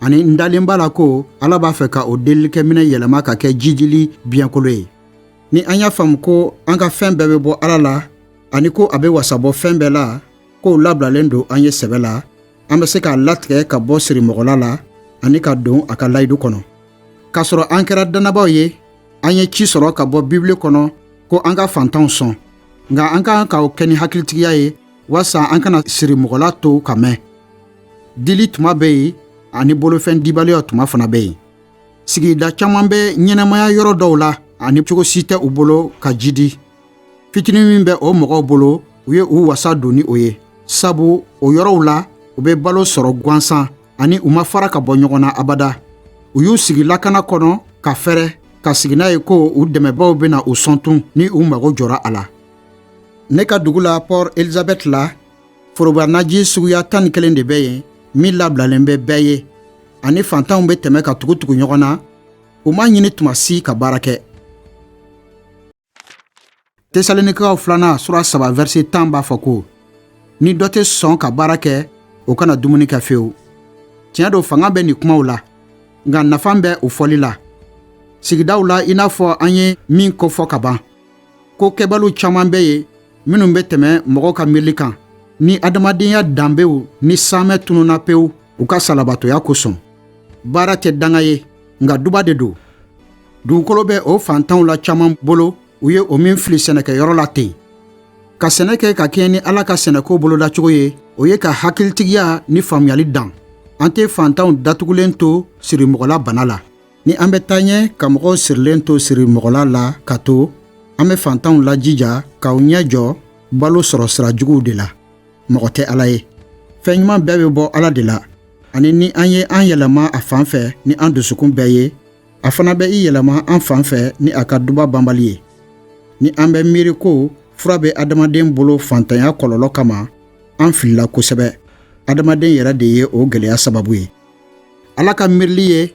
ani n dalen b'a la ko ala b'a fɛ ka o delilikɛminɛ yɛlɛma ka kɛ jidili biɲɛkolo ye ni an y'a faamu ko an ka fɛn bɛɛ bɛ bɔ ala la ani ko a bɛ wasabɔ fɛn bɛɛ la k'o labilalen don an ye sɛbɛ la an bɛ se k'a latigɛ ka bɔ sirimɔgɔla la ani ka don a ka layidu kɔnɔ k'a sɔrɔ an kɛra dannabaaw ye an ye ci sɔrɔ ka bɔ bibili kɔnɔ ko an ka fantanw sɔn nka an ka kan ka o kɛ ni hakilitigiya ye walasa an kana sirimɔgɔla to ka mɛn dili tuma bɛ yen ani bolofɛn dibaliya tuma fana bɛ yen sigida caman bɛ ɲɛnamaya yɔrɔ dɔw la ani cogo si tɛ u bolo ka jidi fitinin min bɛ o mɔgɔw bolo u ye u wasa don ni o ye sabu o yɔrɔw la u bɛ balo sɔrɔ gansan ani u ma fara ka bɔ ɲɔgɔn na abada u y'u sigi lakana kɔnɔ ka fɛrɛ ka sigi n'a ye ko u dɛmɛbaaw bɛna u sɔn tun ni u mago jɔra a la ne ka dugu la pɔr elizabɛti la forobanaji suguya tan ni kelen de bɛ yen min labilalen bɛ bɛɛ ye ani fantanw bɛ tɛmɛ ka tugu tugu ɲɔgɔn na u m'a ɲini tuma si ka baara kɛ tesalonikaw filanan sura saba vɛrisi tan b'a fɔ ko ni dɔ tɛ sɔn ka baara kɛ o kana dumuni kɛ fewu tiɲɛ don fanga bɛ nin kumaw la nka nafa bɛ o fɔli la sigidaw la i n'a fɔ an ye min kofɔ ka ban ko kɛbali caman bɛ yen minnu bɛ tɛmɛ mɔgɔw ka miirili kan ni adamadenya danbew ni saamɛ tununna pewu u ka salabatɔya kosɔn baara tɛ danga ye nka duba de don dugukolo bɛ o fantanw la caman bolo u ye o min fili sɛnɛkɛyɔrɔ la ten ka sɛnɛ kɛ ka kɛɲɛ ni ala ka sɛnɛko bolodacogo ye o ye ka hakilitigiya ni faamuyali dan an tɛ fantanw datugulen to sirimɔgɔla bana la Ni an bɛ taa ɲɛ ka mɔgɔw sirilen to sirimɔgɔla la ka to an bɛ fantanw lajija ka u ɲɛ jɔ balo sɔrɔ sira juguw de la mɔgɔ tɛ ala ye fɛn ɲuman bɛɛ bɛ bɔ ala de la ani ni an ye an yɛlɛma a fan fɛ ni an dusukun bɛɛ ye a fana bɛ i yɛlɛma an fan fɛ ni a ka duba banbali ye ni an bɛ miiri ko fura bɛ adamaden bolo fantanya kɔlɔlɔ kama an filila kosɛbɛ adamaden yɛrɛ de ye o gɛlɛya sababu ye ala ka miirili ye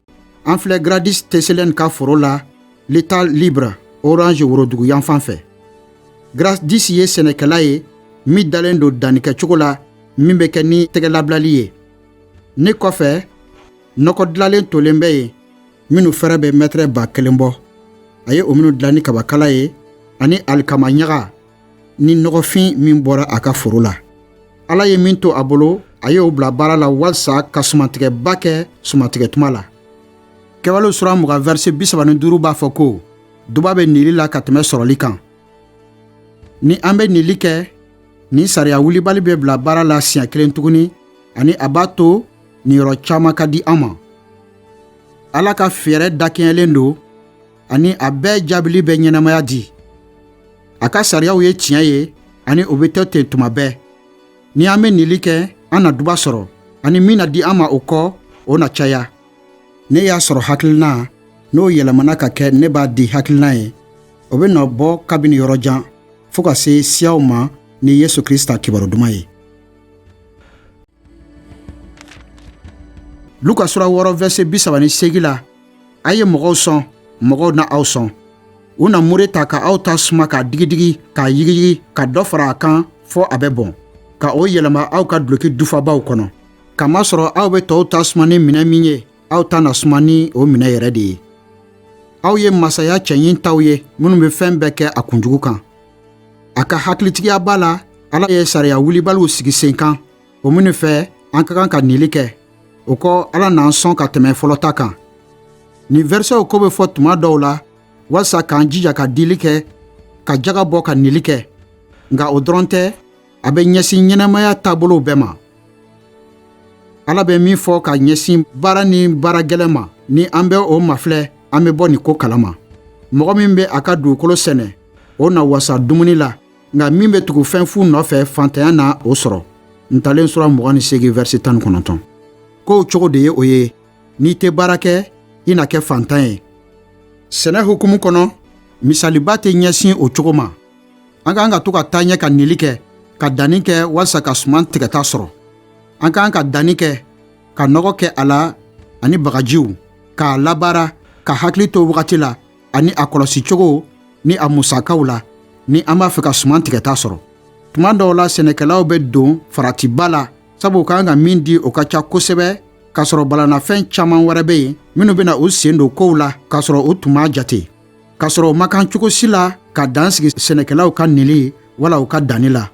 an filɛ gradis tɛselen ka foro la l'état libre orange worodugu yanfan fɛ gradis ye sɛnɛkɛla ye min dalen don dannikɛcogo la min bɛ kɛ ni tɛgɛlabilali ye ne kɔfɛ nɔgɔ dilalen tolen bɛ yen minnu fɛrɛ bɛ mɛtɛrɛ ba kelen bɔ a ye o minnu dilan ni kabakala ye ani alikama ɲaga ni nɔgɔfin min bɔra a ka foro la ala ye min to a bolo a y'o bila baara la walisa ka sumantigɛba kɛ sumantigɛ tuma la kɛwalew sura mugan vɛrisi bisaba ni duuru b'a fɔ ko duba bɛ nili la ka tɛmɛ sɔrɔli kan ni an bɛ nili kɛ nin sariya wulibali bɛ bila baara la siɲɛ kelen tuguni ani a b'a to niyɔrɔ caman ka di an ma ala ka fɛɛrɛ dakɛɲɛlen don ani a bɛɛ jaabili bɛ ɲɛnamaya di a ka sariyaw ye tiɲɛ ye ani o bɛ to ten tuma bɛɛ ni an bɛ nili kɛ an na duba sɔrɔ ani min na di an ma o kɔ o na caya ne y'a sɔrɔ hakilina n'o yɛlɛmana ka kɛ ne b'a di hakilina ye o bɛ nɔ bɔ kabini yɔrɔ jan fɔɔ ka se siyaw ma ni yesu krista kibaru duman ye luka sura wɔɔrɔ vɛrisɛ bi saba ni segi la a ye mɔgɔw sɔn mɔgɔw na aw sɔn u na mure ta ka aw ta suma k'a digidigi k'a yigiyigi ka dɔ fara a kan fɔɔ a bɛ bɔn ka o yɛlɛma aw ka duloki dufabaw kɔnɔ kamasɔrɔ aw be tɔɔw ta suma ni minɛ min ye aw ta na suma ni o minɛ yɛrɛ de ye aw ye masaya cɛɲin taw ye minnu be fɛɛn bɛɛ kɛ a kunjugu kan a ka hakilitigiyaba la ala ye sariya wulibaliw sigi sen kan o minnu fɛ an ka kan ka nili kɛ o kɔ ala n'an sɔn ka tɛmɛ fɔlɔ ta kan nin vɛrisɛw ko bɛ fɔ tuma dɔw la walisa k'an jija ka dili kɛ ka jaga bɔ ka nili kɛ nka o dɔrɔn tɛ a bɛ ɲɛsin ɲɛnamaya taabolow bɛɛ ma ala bɛ min fɔ ka ɲɛsin baara ni baara gɛlɛn ma ni an bɛ o mafilɛ an bɛ bɔ nin ko kalama mɔgɔ min bɛ a ka dugukolo sɛnɛ o na wasa dumuni la nka min bɛ tugu fɛn fu nɔfɛ fantanya na o sɔrɔ ntalen sura mugan ni seegin vɛrisi tan ni kɔnɔntɔn kow cogo de ye o ye n'i tɛ baara kɛ i na kɛ fantan ye sɛnɛ hukumu kɔnɔ misaliba tɛ ɲɛsin o cogo ma an ka kan ka to ka taa ɲɛ ka nili kɛ ka danni kɛ walisa ka suman tigɛta sɔrɔ an ka kan ka danni kɛ ka nɔgɔ kɛ a la ani bagajiw k'a labaara ka hakili to wagati la ani a kɔlɔsi cogo ni a musakaw la ni an b'a fɛ ka suman tigɛta sɔrɔ tuma dɔw la sɛnɛkɛlaw bɛ don faratiba la sabu u ka kan ka min di o ka ca kosɛbɛ k'a sɔrɔ balanafɛn caman wɛrɛ bɛ yen minnu bɛna u sen don kow la k'a sɔrɔ u tun m'a jate k'a sɔrɔ u ma kan cogo si la ka dan sigi sɛnɛkɛlaw ka nili wala u ka danni la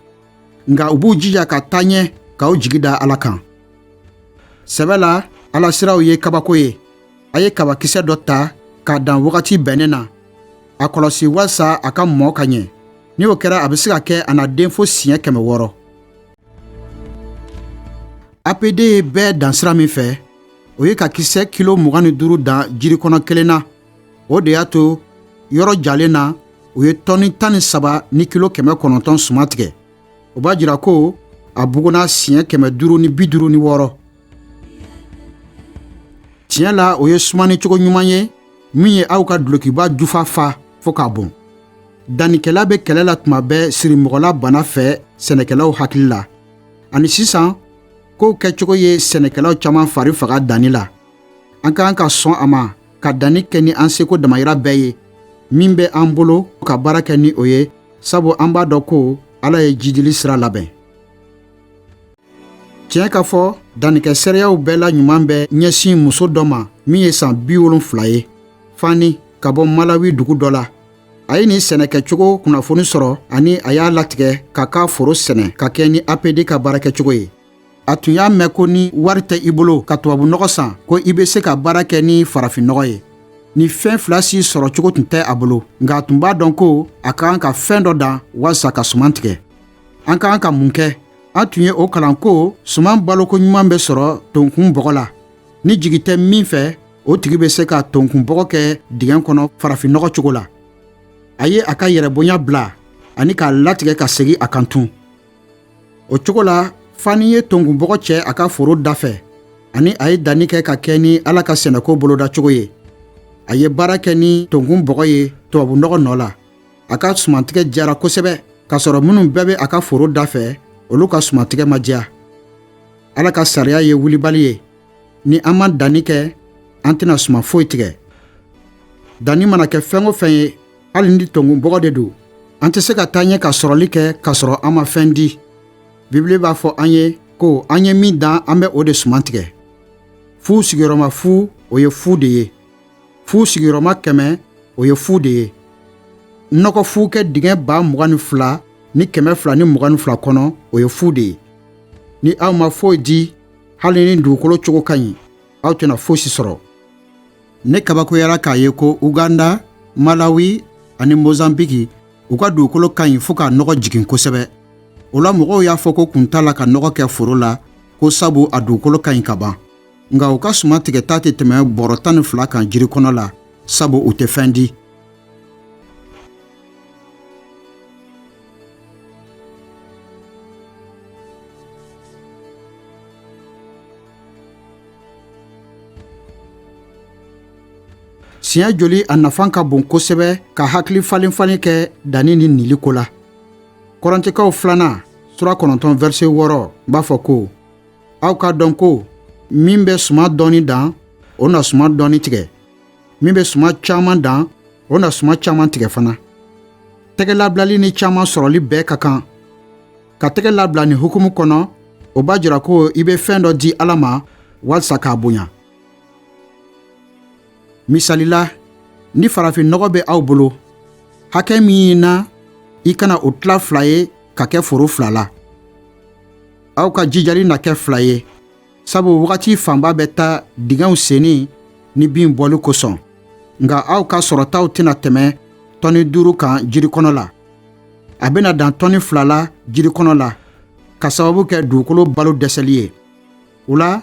nka u b'u jija ka taa ɲɛ k'u jigi da ala kan sɛbɛ la ala siraw ye kabako ye a ye kabakisɛ dɔ ta k'a dan wagati bɛnnen na a kɔlɔsi walisa a ka mɔ ka ɲɛ ni o kɛra a bɛ se ka kɛ a na den fo siɲɛ kɛmɛ wɔɔrɔ apd ye bɛɛ dan sira min fɛ o ye ka kisɛ kilo mugan ni duuru dan jirikɔnɔ kelen na o de y'a to yɔrɔ jalen na u ye tɔni tan ni saba ni kilo kɛmɛ kɔnɔntɔn suman tigɛ o b'a jira ko a buguna siɲɛ kɛmɛ duuru ni bi duuru ni wɔɔrɔ tiɲɛ la o ye sumani cogo ɲuman ye min ye aw ka dulokiba jufa fa fɔɔ k'a bon dannikɛla bɛ kɛlɛ la tuma bɛɛ sirimɔgɔla bana fɛ sɛnɛkɛlaw hakili la ani sisan kow kɛcogo ye sɛnɛkɛlaw caman fari faga danni la an ka kan ka sɔn a ma ka danni kɛ ni an seko damayira bɛɛ ye min bɛ an bolo ka baara kɛ ni o ye sabu an b'a dɔn ko ala ye jidili sira labɛn tiɲɛ ka fɔ dannikɛ seereyaw bɛɛ la ɲuman bɛ ɲɛsin muso dɔ ma min ye san bi wolonfila ye fani ka bɔ malawi dugu dɔ la a ye nin sɛnɛkɛcogo kunnafoni sɔrɔ ani a y'a latigɛ k'a ka foro sɛnɛ ka kɛɲɛ ni apd ka baarakɛcogo ye a tun y'a mɛn ko ni wari tɛ i bolo ka tubabunɔgɔ san ko i bɛ se ka baara kɛ ni farafinnɔgɔ ye nin fɛn fila si sɔrɔ cogo tun tɛ a bolo nka a tun b'a dɔn ko a ka kan ka fɛn dɔ dan walisa ka suman tigɛ an ka kan ka mun kɛ an tun ye o kalan ko suman baloko ɲuman bɛ sɔrɔ tonkun bɔgɔ la ni jigi tɛ min fɛ o tigi bɛ se ka tonkun bɔgɔ kɛ dingɛn kɔnɔ farafinnɔgɔ cogo la a ye a ka yɛrɛbonya bila ani k'a latigɛ ka segin a kan tun o cogo la fani ye tonkun bɔgɔ cɛ a ka foro dafɛ ani a ye danni kɛ ka kɛɲɛ ni ala ka sɛnɛko boloda cogo ye a ye baara kɛ ni tonkun bɔgɔ ye tubabunɔgɔ nɔ la a ka sumantigɛ diyara kosɛbɛ k'a sɔrɔ minnu bɛɛ bɛ a ka foro dafɛ olu ka sumantigɛ ma diya ala ka sariya ye wulibali ye ni an ma danni kɛ an tɛna suman foyi tigɛ danni mana kɛ fɛn o fɛn ye hali ni tonkun bɔgɔ de don an tɛ se ka taa ɲɛ ka sɔrɔli kɛ k'a sɔrɔ an ma fɛn di bibili b'a fɔ an ye ko an ye min dan an bɛ o de suman tigɛ fu sigiyɔrɔma fu o ye fu de ye fu sigiyɔrɔma kɛmɛ o ye fu de ye nɔgɔ fu kɛ dingɛ ba mugan ni fila ni kɛmɛ fila ni mugan ni fila kɔnɔ o ye fu de ye ni aw ma foyi di hali ni dugukolo cogo ka ɲi aw tɛna fosi sɔrɔ ne kabakoyara k'a ye ko uganda malawi ani mozambiki u ka dugukolo ka ɲi fɔɔ k'a nɔgɔ jigin kosɛbɛ o la mɔgɔw y'a fɔ ko kun t'a la ka nɔgɔ kɛ foro la ko sabu a dugukolo ka ɲi ka ban nka u ka suma tigɛta tɛ tɛmɛ bɔrɔ tan ni fila kan jiri kɔnɔ la sabu u tɛ fɛn di siɲɛ joli a nafa ka bon kosɛbɛ ka hakili falen falen kɛ danni ni nili ko la kɔrɔntikaw filanan sura kɔnɔntɔn vɛrse wɔɔrɔ b'a fɔ ko aw k'a dɔn ko min bɛ suma dɔɔni dan o na suma dɔɔni tigɛ min bɛ suma caman dan o na suma caman tigɛ fana tɛgɛlabilali ni caman sɔrɔli bɛɛ ka kan ka tɛgɛ labila nin hukumu kɔnɔ o b'a jira ko i bɛ fɛn dɔ di ala ma walisa k'a bonya misali la ni farafin nɔgɔ bɛ aw bolo hakɛ min na i kana o tila fila ye ka kɛ foro fila la aw ka jijali na kɛ fila ye sabu wagati fanba bɛ taa dingɛw senni ni bin bɔli kosɔn nka aw ka sɔrɔtaw tɛna tɛmɛ tɔni duuru kan jiri kɔnɔ la a bɛna dan tɔni fila la jiri kɔnɔ la ka sababu kɛ dugukolo balo dɛsɛli ye o la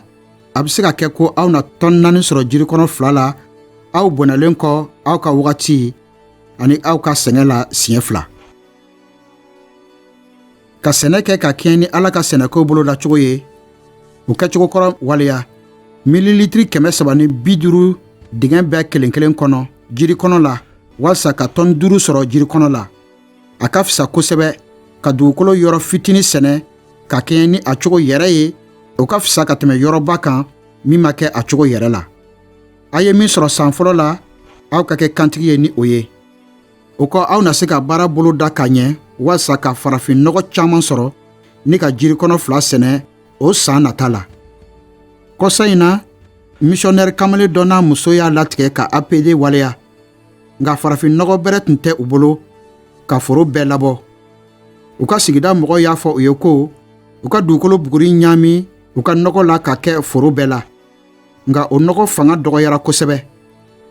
a bɛ se ka kɛ ko aw na tɔni naani sɔrɔ jiri kɔnɔ fila la aw bɔnɛlen kɔ aw ka wagati ani aw ka sɛgɛn la siɲɛ fila ka sɛnɛ kɛ ka kɛɲɛ ni ala ka sɛnɛko bolodacogo ye o kɛcogo kɔrɔ waleya mililitiri kɛmɛ saba ni bi duuru dingɛ bɛɛ kelen kelen kɔnɔ jiri kɔnɔ la walisa ka tɔni duuru sɔrɔ jiri kɔnɔ la a ka fisa kosɛbɛ ka dugukolo yɔrɔ fitini sɛnɛ ka kɛɲɛ ni a cogo yɛrɛ ye o ka fisa ka tɛmɛ yɔrɔba kan min ma kɛ a cogo yɛrɛ la a ye min sɔrɔ san fɔlɔ la aw ka kɛ kantigi ye ni o ye o kɔ aw na se ka baara bolo da ka ɲɛ walasa ka farafin nɔgɔ caman sɔrɔ ni ka jiri kɔnɔ fila sɛnɛ o san nata la kɔsa in na misiyɔnɛri kamalen dɔ n'a muso y'a latigɛ ka apd waleya nka farafin nɔgɔ bɛrɛ tun tɛ u bolo ka foro bɛɛ labɔ u ka sigida mɔgɔw y'a fɔ u ye ko u ka dugukolo buguri ɲaami u ka nɔgɔ la ka kɛ foro bɛɛ la nka o nɔgɔ fanga dɔgɔyara kosɛbɛ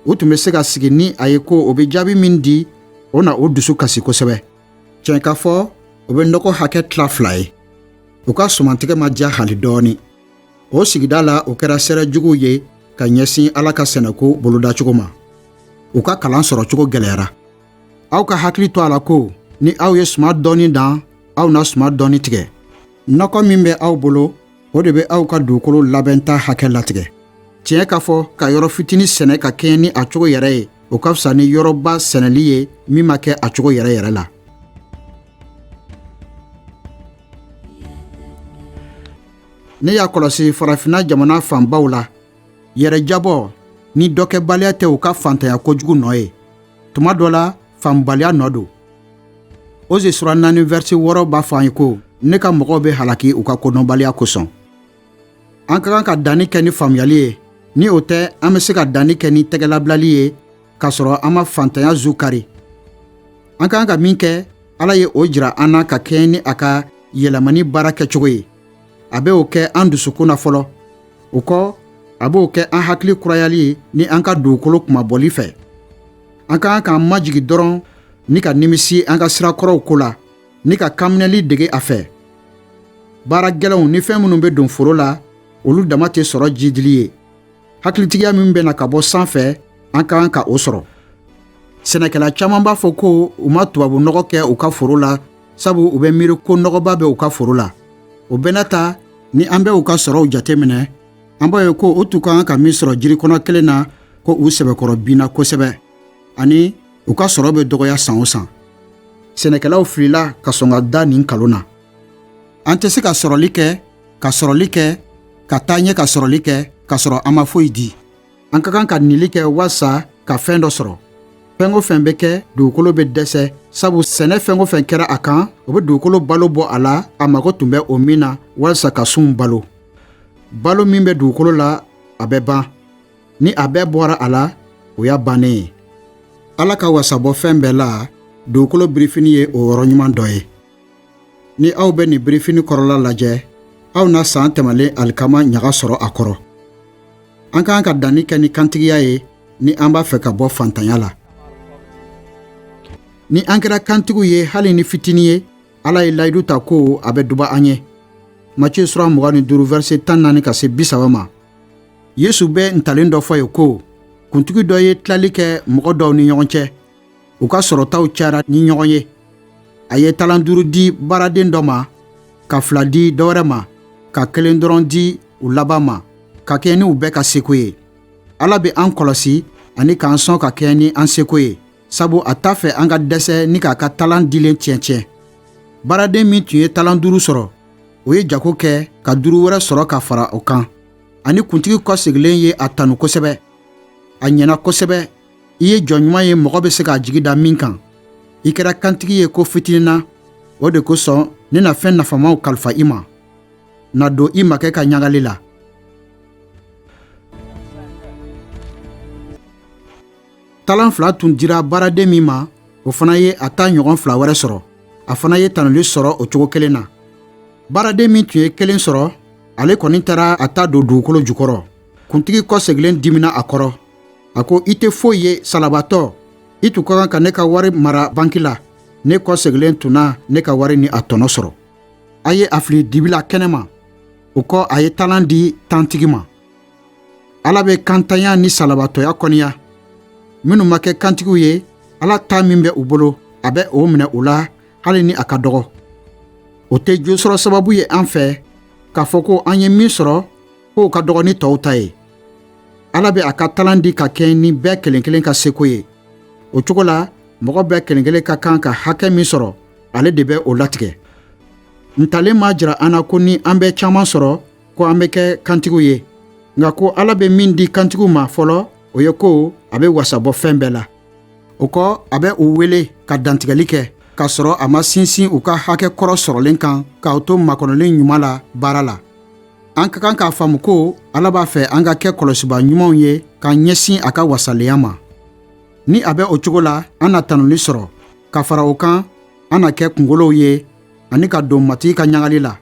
u tun bɛ se ka sigi ni a ye ko o bɛ jaabi min di o na u dusu kasi kosɛbɛ tiɲɛ ka fɔ o bɛ nɔgɔ hakɛ tila fila ye u ka sumantigɛ ma diya hali dɔɔni o sigida la u kɛra seere juguw ye ka ɲɛsin ala ka sɛnɛko bolodacogo ma u ka kalan sɔrɔ cogo gɛlɛyara aw ka hakili to a la ko ni aw ye suma dɔɔni dan aw na suma dɔɔni tigɛ nɔgɔ min bɛ aw bolo o de bɛ aw ka dugukolo labɛnta hakɛ latigɛ tiɲɛ k'a fɔ ka yɔrɔ fitinin sɛnɛ ka kɛɲɛ ni a cogo yɛrɛ ye o ka fisa ni yɔrɔba sɛnɛli ye min ma kɛ a cogo yɛrɛ yɛrɛ la ne y'a kɔlɔsi farafinna jamana fanbaw la yɛrɛjabɔ ni dɔkɛbaliya tɛ u ka fantanya kojugu nɔ ye tuma dɔ la faamubaliya nɔ don oze sura naani vɛrse wɔɔrɔ b'a fɔ an ye ko ne ka mɔgɔw bɛ halaki u ka kodɔnbaliya kosɔn an ka kan ka danni kɛ ni faamuyali ye ni o tɛ an bɛ se ka danni kɛ ni tɛgɛlabilali ye k'a sɔrɔ an ma fantanya zu kari an ka kan ka min kɛ ala ye o jira an na ka kɛɲɛ ni a ka yɛlɛmani baara kɛcogo ye a bɛ o kɛ an dusukun na fɔlɔ o kɔ a b'o kɛ an hakili kurayali ye ni an ka dugukolo kunmabɔli fɛ an ka kan k'an majigin dɔrɔn ni ka nimisi an ka sira kɔrɔw ko la ni ka kanminɛli dege a fɛ baara gɛlɛnw ni fɛn minnu bɛ don foro la olu dama tɛ sɔrɔ jidili ye hakilitigiya min bɛ na ka bɔ sanfɛ an ka kan ka o sɔrɔ sɛnɛkɛla caman b'a fɔ ko u ma tubabu nɔgɔ kɛ u ka foro la sabu u bɛ miiri ko nɔgɔba bɛ u ka foro la o bɛɛ n'a ta ni an bɛ u ka sɔrɔw jateminɛ an b'a ye ko u tun ka kan ka min sɔrɔ jiri kɔnɔ kelen na ko u sɛbɛkɔrɔ binna kosɛbɛ ani u ka sɔrɔ bɛ dɔgɔya san o san sɛnɛkɛlaw filila ka sɔn ka da nin nkalon na an tɛ se ka sɔrɔli kɛ ka sɔrɔli kɛ ka taa ɲɛ ka sɔrɔli kɛ k'a sɔrɔ an ma foyi di an ka kan ka nili kɛ walisa ka fɛn dɔ sɔrɔ fɛn o fɛn bɛ kɛ dugukolo bɛ dɛsɛ sabu sɛnɛfɛn o fɛn kɛra a kan o bɛ dugukolo balo bɔ a la a mago tun bɛ o min na walisa ka sunw balo balo min bɛ dugukolo la a bɛ ban ni a bɛɛ bɔra a la o y'a bannen ye ala ka wasabɔ fɛn bɛɛ la dugukolo birifini ye o yɔrɔ ɲuman dɔ ye ni aw bɛ nin birifini kɔrɔla lajɛ aw na san tɛmɛlen alikama ɲaga sɔrɔ a kɔrɔ an ka kan ka danni kɛ ni kantigiya ye ni an b'a fɛ ka bɔ fantanya la ni an kɛra kantigiw ye hali ni fitini ye ala ye layidu ta ko a bɛ duba an ye matiye sura mugan ni duuru vɛrse tan ni naani ka se bisaba ma yesu bɛ ntalen dɔ fɔ yen ko kuntigi dɔ ye tilali kɛ mɔgɔ dɔw ni ɲɔgɔn cɛ u ka sɔrɔtaw cayara ni ɲɔgɔn ye a ye talan duuru di baaraden dɔ ma ka fila di dɔ wɛrɛ ma ka kelen dɔrɔn di u laban ma ka kɛɲɛ ni u bɛɛ ka seko ye ala bɛ an kɔlɔsi ani k'an sɔn ka kɛɲɛ ni an seko ye sabu a t'a fɛ an ka dɛsɛ ni k'a ka talan dilen tiɲɛtiɲɛ baaraden min tun ye talan duuru sɔrɔ o ye jago kɛ ka duuru wɛrɛ sɔrɔ ka fara o kan ani kuntigi kɔsegilen ye a tanu kosɛbɛ a ɲɛna kosɛbɛ i ye jɔn ɲuman ye mɔgɔ bɛ se k'a jigi da min kan i kɛra kantigi ye ko fitinin na o de kosɔn ne na fɛn nafamaw kalifa i ma na don i makɛ ka ɲagali la talan fila tun dira baaraden min ma o fana ye a ta ɲɔgɔn fila wɛrɛ sɔrɔ a fana ye tanuli sɔrɔ o cogo kelen na baaraden min tun ye kelen sɔrɔ ale kɔni taara a ta don dugukolo jukɔrɔ kuntigi kɔsegilen dimina a kɔrɔ a ko i tɛ foyi ye salabatɔ i tun ka kan ka ne ka wari mara banki la ne kɔsegilen tun na ne ka wari ni a tɔnɔ sɔrɔ a ye a fili dibi la kɛnɛma o kɔ a ye talan di tantigi ma ala bɛ kantanya ni salabatɔya kɔniya minnu ma kɛ kantigiw ye ala ta min bɛ u bolo a bɛ o minɛ u la hali ni a ka dɔgɔ o tɛ jo sɔrɔ sababu ye an fɛ k'a fɔ ko an ye min sɔrɔ k'o ka dɔgɔ ni tɔw ta ye ala bɛ a ka talan di ka kɛɲɛ ni bɛɛ kelen kelen ka seko ye o cogo la mɔgɔ bɛɛ kelen kelen ka kan ka hakɛ min sɔrɔ ale de bɛ o latigɛ ntalen m'a jira an na ko ni an bɛ caman sɔrɔ ko an bɛ kɛ kantigiw ye nka ko ala bɛ min di kantigiw ma fɔlɔ o ye ko a bɛ wasa bɔ fɛn bɛɛ la o kɔ a bɛ u wele ka dantigɛli kɛ k'a sɔrɔ a ma sinsin u ka hakɛ kɔrɔ sɔrɔlen kan ka u to makɔnɔli ɲuman la baara la an ka kan k'a faamu ko ala b'a fɛ an ka kɛ kɔlɔsiba ɲumanw ye k'an ɲɛsin a ka wasalenya ma ni a bɛ o cogo la an na tanuli sɔrɔ ka fara o kan an na kɛ kungolow ye ani ka don matigi ka ɲagali la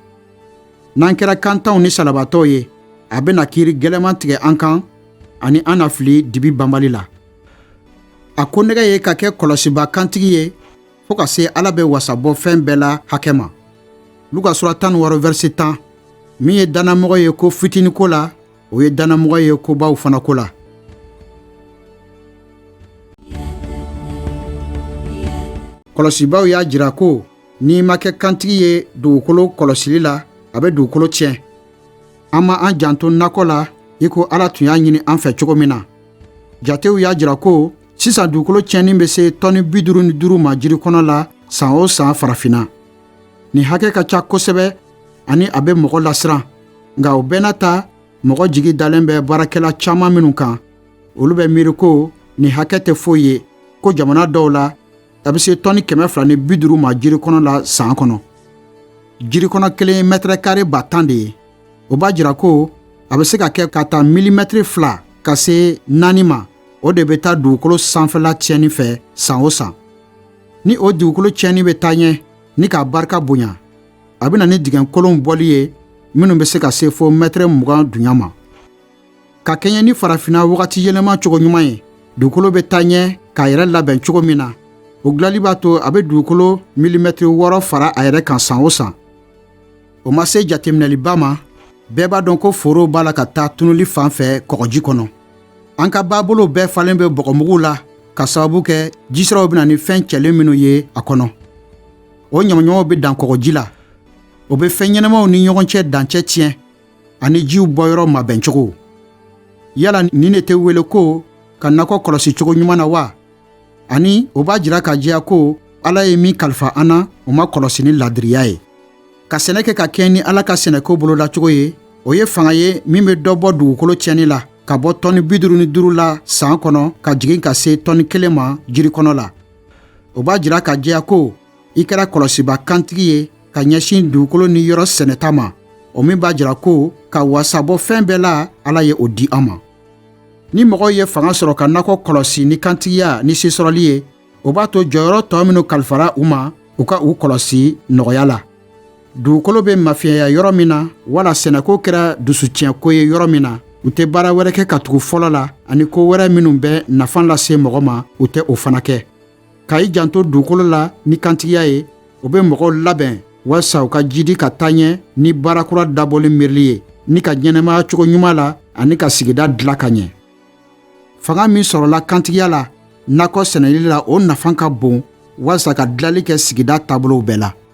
n'an kɛra kantanw ni salabatɔw ye a bɛna kiri gɛlɛman tigɛ an kan ani an na fili dibi banbali la a ko nɛgɛ ye ka kɛ kɔlɔsiba kantigi ye fɔɔ ka se ala bɛ wasa bɔ fɛn bɛɛ la hakɛ ma luka sura tan wɔɔrɔ vɛrisi tan min ye dannamɔgɔ ye ko fitinin ko la o ye dannamɔgɔ ye kobaw fana ko la kɔlɔsibaw y'a jira ko n'i ma kɛ kantigi ye dugukolo kɔlɔsili la a bɛ dugukolo tiɲɛ an ma an janto nakɔ la i ko ala tun y'a ɲini an fɛ cogo min na jatew y'a jira ko sisan dugukolo tiɲɛni bɛ se tɔni bi duuru ni duuru ma jiri kɔnɔ la san o san farafinna nin hakɛ ka ca kosɛbɛ ani a bɛ mɔgɔ lasiran nka o bɛɛ n'a ta mɔgɔ jigi dalen bɛ baarakɛla caman minnu kan olu bɛ miiri ko nin hakɛ tɛ foyi ye ko jamana dɔw la a bɛ se tɔni kɛmɛ fila ni bi duuru ma jiri kɔnɔ la san kɔnɔ jiri kɔnɔ kelen ye mɛtɛrɛ kare ba tan de ye o b'a jira ko a bɛ se ka kɛ ka taa milimɛtiri fila ka se naani ma o de bɛ taa dugukolo sanfɛla tiɲɛni fɛ san o san ni o dugukolo tiɲɛni bɛ taa ɲɛ ni k'a barika bonya a bɛ na ni dingɛkolonw bɔli ye minnu bɛ se ka se fo mɛtɛrɛ mugan dunya ma ka kɛɲɛ ni farafinna wagati yɛlɛma cogo ɲuman ye dugukolo bɛ taa ɲɛ k'a yɛrɛ labɛn cogo min na o dilali b'a to a bɛ dugukolo milimɛtiri wɔɔrɔ fara a yɛrɛ kan san o san o ma se jateminɛliba ma bɛɛ b'a dɔn ko foro b'a la ka taa tunuli fan fɛ kɔgɔji kɔnɔ an ka baabolow bɛɛ falen bɛ bɔgɔmuguw la ka sababu kɛ jisiraw bɛ na ni fɛn cɛlen minnu ye a kɔnɔ o ɲamaɲamaw bɛ dan kɔgɔji la o bɛ fɛn ɲɛnamaw ni ɲɔgɔn cɛ dancɛ tiɲɛ ani jiw bɔyɔrɔ mabɛn cogo yala nin de tɛ wele ko ka nakɔ kɔlɔsi cogo ɲuman na wa ani o b'a jira ka jɛya ko ala ye min kalifa an na o ma kɔlɔsi ni ladiriya ye ka sɛnɛ kɛ ka kɛɲɛ ni ala ka sɛnɛko bolodacogo ye o ye fanga ye min bɛ dɔ bɔ dugukolo tiɲɛni la ka bɔ tɔni bi duuru ni duuru la san kɔnɔ ka jigin ka se tɔni kelen ma jirikɔnɔ la o b'a jira ka jɛya ko i kɛra kɔlɔsiba kantigi ye ka ɲɛsin dugukolo ni yɔrɔ sɛnɛta ma o min b'a jira ko ka wasabɔ fɛn bɛɛ la ala ye o di an ma ni mɔgɔw ye fanga sɔrɔ ka nakɔ kɔlɔsi ni kantigiya ni sesɔrɔli ye o b'a to jɔyɔrɔ tɔ minw kalifara u ma u ka u kɔlɔsi nɔgɔya la dugukolo bɛ mafiɲɛya yɔrɔ min na wala sɛnɛko kɛra dusutiɲɛko ye yɔrɔ min na u tɛ baara wɛrɛ kɛ ka tugu fɔlɔ la ani ko wɛrɛ minnu bɛ nafa lase mɔgɔ ma u tɛ o fana kɛ ka i janto dugukolo la ni kantigiya ye o bɛ mɔgɔw labɛn walisa u ka jidi ka taa ɲɛ ni baara kura dabɔli miirili ye ni ka ɲɛnamaya cogo ɲuman la ani ka sigida dila ka ɲɛ fanga min sɔrɔla kantigiya la nakɔ sɛnɛli la o nafa ka bon walisa ka dilali kɛ sigida taabolow bɛɛ la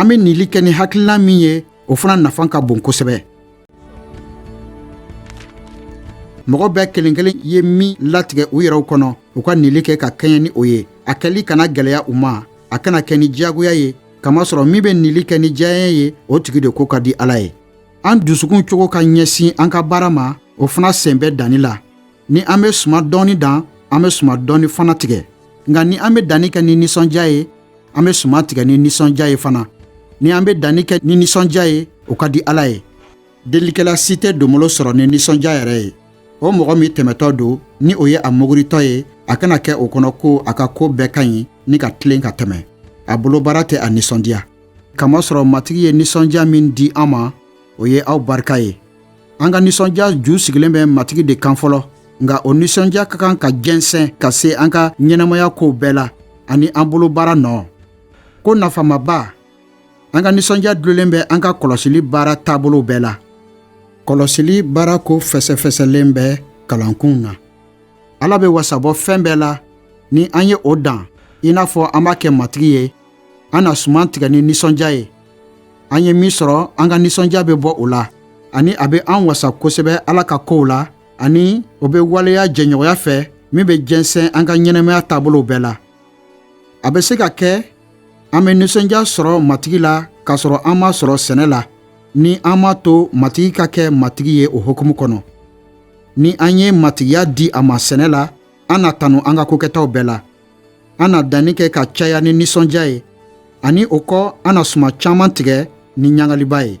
an bɛ nili kɛ ni hakilina min ye o fana nafa ka bon kosɛbɛ mɔgɔ bɛɛ kelen kelen ye min latigɛ u yɛrɛw kɔnɔ u ka nili kɛ ka kɛɲɛ ni o ye a kɛli kana gwɛlɛya u ma a kana kɛ ni diyagoya ye kamasɔrɔ min bɛ nili kɛ ni diyaɲɛ ye o tigi de ko ka di ala ye an dusukun cogo ka ɲɛsin an ka baara ma o fana sen bɛ danni la ni an bɛ suma dɔɔni dan an bɛ suma dɔɔni fana tigɛ nka ni an bɛ danni kɛ ni nisɔndiya ye an bɛ suma tigɛ ni nisɔndiya ye fana ni an bɛ danni kɛ ni nisɔndiya ye o ka di ala ye Delikɛla si tɛ donbolo sɔrɔ ni nisɔndiya yɛrɛ ye o mɔgɔ min tɛmɛtɔ don ni o ye a muguritɔ ye a kana kɛ o kɔnɔ ko a ka ko bɛɛ ka ɲi ni ka tilen ka tɛmɛ a bolo baara tɛ a nisɔndiya k'a masɔrɔ matigi ye nisɔndiya min di an ma o ye aw barika ye an ka nisɔndiya ju sigilen bɛ matigi de kan fɔlɔ nka o nisɔndiya ka kan ka jɛnsɛn ka se an ka ɲɛnamaya kow bɛɛ la ani an bolo baara nɔ ko nafamaba an ka nisɔndiya dulolen bɛ an ka kɔlɔsili baara taabolo bɛɛ la kɔlɔsili baara ko fɛsɛfɛsɛlen bɛ kalankun na ala bɛ wasabɔ fɛn bɛɛ la ni an ye o dan i n'a fɔ an b'a kɛ matigi ye an na suman tigɛ ni nisɔndiya ye an ye min sɔrɔ an ka nisɔndiya bɛ bɔ o la ani a bɛ an wasa kosɛbɛ ala ka kow la ani o bɛ waleya jɛɲɔgɔnya fɛ min bɛ jɛnsɛn an ka ɲɛnamaya taabolow bɛɛ la a bɛ se ka kɛ an bɛ nisɔndiya sɔrɔ matigi la k'a sɔrɔ an m'a sɔrɔ sɛnɛ la ni an m'a to matigi ka kɛ matigi ye o hukumu kɔnɔ ni an ye matigiya di a ma sɛnɛ la an na tanu an ka kokɛtaw bɛɛ la an na danni kɛ ka caya ni nisɔndiya ye ani o kɔ an na suman caman tigɛ ni ɲagaliba ye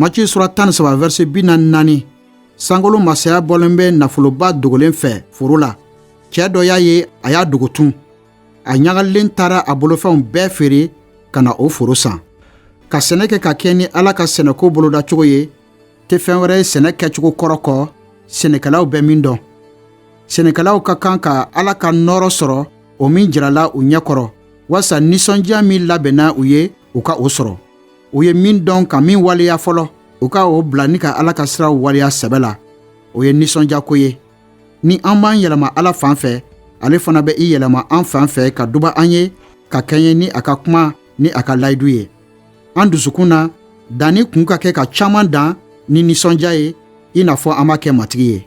Matiyu sura tan ni saba vɛrɛsi bi naani ni naani sankolo masaya bɔlen bɛ nafoloba dogolen fɛ foro la cɛ dɔ y'a ye a y'a dogo tun a ɲagalen taara a bolofɛnw bɛɛ feere ka na o foro san ka sɛnɛ kɛ ka kɛɲɛ ni ala ka sɛnɛko bolodacogo ye tɛ fɛn wɛrɛ ye sɛnɛ kɛcogo kɔrɔ kɔ sɛnɛkɛlaw bɛ min dɔn sɛnɛkɛlaw ka kan ka ala ka nɔɔrɔ sɔrɔ o min jirala u ɲɛ kɔrɔ walisa ninsɔndiya min labɛnna u ye u ka o sɔrɔ u ye min dɔn ka min waleya fɔlɔ u ka o bila ni ka ala ka siraw waleya sɛbɛ la o ye ninsɔndiyako ye ni an b'an yɛlɛma ala fan fɛ ale fana bɛ i yɛlɛma an fan fɛ ka duba an ye ka kɛɲɛ ni a ka kuma ni a ka layidu ye an dusukun na danni kun ka kɛ ka caman dan ni nisɔndiya ye i n'a fɔ an b'a kɛ matigi ye